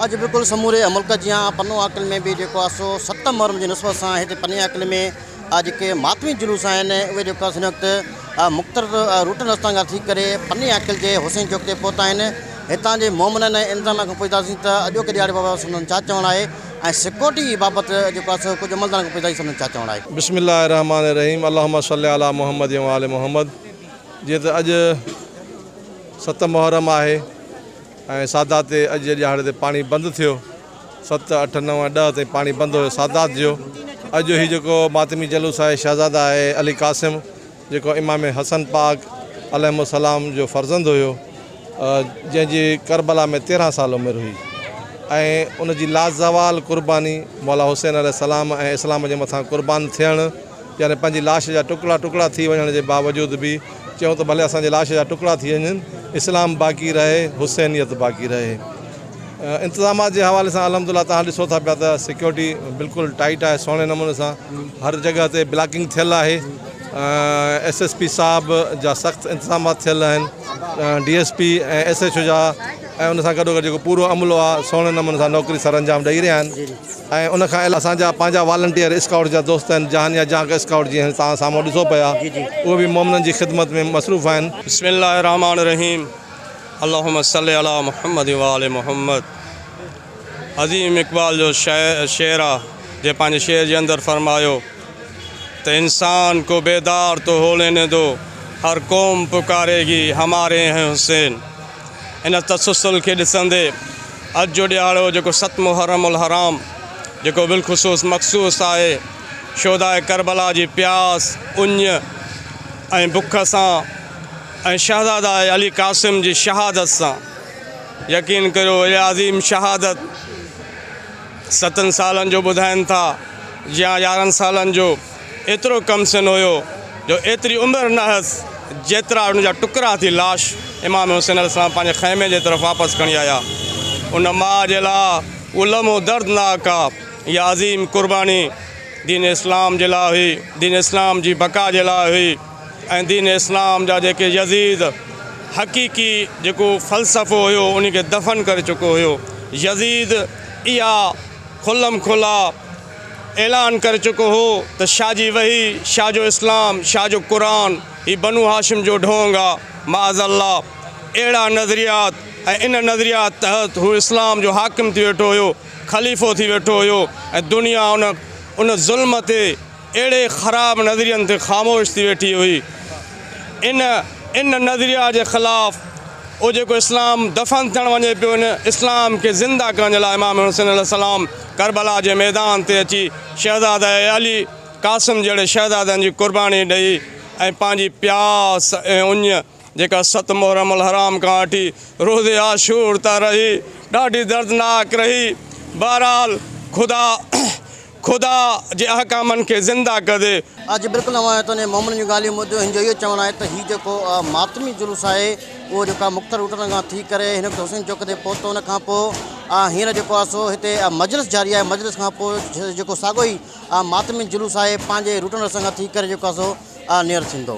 اڄ بلڪل سموري ملڪ جيان پنو عاقل ۾ به جيڪو آهي سو ستم محرم جي نسبت سان هتي پني عاقل ۾ جيڪي ماتمي جلوس آهن اهي جيڪو آهي سو هن وقت مختلف روٽن رستن کان ٿي ڪري پني عاقل جي حسين چوڪ تي پهتا آهن هتان جي مومنن ۽ انظاميا کان پڇتاسين ته اڄوڪي ڏهاڙي بابت سندن ڇا چوڻ آهي ۽ سڪيورٽي بابت جيڪو آهي سو ڪجهه عملدارن کان پڇتاسين سندن ڇا چوڻ آهي. بسم الله الرحمٰن الرحيم اللهم صلّي علي محمّد وآل محمّد جيئن ته اڄ ستم محرم آهي. ۽ سادات تي اڄ جي ڏهاڙي تي پاڻي بند ٿيو ست اٺ نو ۽ ڏهه تائين پاڻي بند هيو سادات جو اڄ جو هي جيڪو ماتمي جلوس آهي شهزاده آهي علي قاسم جيڪو امام حسن پاڪ عليهم السلام جو فرزند هيو جنهن جي ڪربلا ۾ تيرهن سال عمر هئي ۽ ان جي لازوال قرباني مولا حسين عليه السلام ۽ اسلام جي مٿان قربان ٿيڻ يعني پنهنجي لاش جا ٽڪڙا ٽڪڙا ٿي وڃڻ جي باوجود به چيون ته ڀلي اسان جي لاش جا ٽڪڙا ٿي وڃن اسلام باقي رهي حسينيت باقي رهي انتظامات جي حوالي سان الحمد لله توهان ڏسو ٿا پيا ته سيڪيورٽي بلڪل ٽائيٽ آهي سهڻي نموني سان هر جڳهه تي بلاڪنگ ٿيل آهي ايس ايس پي صاحب جا سخت انتظامات ٿيل آهن D S P ۽ S H O جا ۽ ان سان گڏو گڏ جيڪو پورو عملو آهي سهڻي نموني سان نوڪري سرانجام ڏئي رهيا آهن ۽ ان کان علاوه اسان جا پنهنجا والنٽيئر اسڪائوٽس جا دوست آهن جهان يا جهانڪ اسڪائوٽ جيئن توهان سامهون ڏسو پيا اهي به مومنن جي خدمت ۾ مصروف آهن. بسم الله الرحمٰن الرحيم اللهم صل علي محمد و آل محمد عظيم اقبال جو شعر آ جنهن پنهنجي شعر جي اندر فرمايو ته انسان ڪو بيدار تو هو ليني دو هر قوم پڪاري گي هماري هين حسين ان تسلسل کي ڏسندي اڄ جو ڏيهاڙو جيڪو ست محرم الحرام جيڪو بالخصوص مخصوص آهي شهداء ڪربلا جي پياس، اڃ ۽ بک سان ۽ شهزاده علي قاسم جي شهادت سان. يقين ڪريو اهي عظيم شهادت ستن سالن جو ٻڌائين ٿا يا يارهن سالن جو. ايترو ڪم سن هيو جو ايتري عمر نه هيس جيترا ان جا ٽڪرا ٿي لاش امام حسين عليه السلام پنهنجي خيمي جي طرف واپس کڻي آيا. ان ماء جي لاء اهو لمحو دردناڪ آ. اها عظيم قرباني دين اسلام جي لاء هئي، دين اسلام جي بقا جي لاء هئي ۽ دين اسلام جا جيڪي يزيد حقيقي جيڪو فلسفو هيو ان کي دفن ڪري چڪو هيو. يزيد اها کلم کلا اعلان ڪري چڪو هو ته شاهه جي وحي، شاهه جو اسلام، شاهه جو قرآن هي بنو هاشم جو ڍونگ آ. معاذ الله اهڙا نظريات ۽ ان نظريات تحت هو اسلام جو حاڪم ٿي ويٺو هيو، خليفو ٿي ويٺو هيو ۽ دنيا ان ان ظلم تي اهڙي خراب نظرين تي خاموش ٿي ويٺي هئي. ان ان نظريات جي خلاف اهو جيڪو اسلام دفن ٿيڻ وڃي پيو ان اسلام کي زنده ڪرڻ جي لاء امام حسين عليه السلام ڪربلا جي ميدان تي اچي شهزاده علي قاسم جهڙي شهزادن جي قرباني ڏئي ۽ پنهنجي پياس ۽ اڃ جيڪا ست محرم الحرام کان وٺي روز عاشور ته رهي ڏاڍي دردناڪ رهي بهرحال خدا خدا جي احڪامن کي زنده ڪندي آء جي بلڪل اوهان آهيو ته انهي مومنن جون ڳالهيون ٻڌ هن جو اهو چوڻ آهي ته هي جيڪو ماتمي جلوس آهي. اهو جيڪو آ مختلف روٽن کان ٿي ڪري هن وقت حسين چوڪ تي پهتو ان کان پوء آ هينئر جيڪو آ سو هتي آ مجلس جاري آهي مجلس کان پوء جيڪو ساڳو ئي آ ماتمي جلوس آهي پنهنجي روٽن رستن کان ٿي ڪري جيڪو آ سو آ نيئر ٿيندو.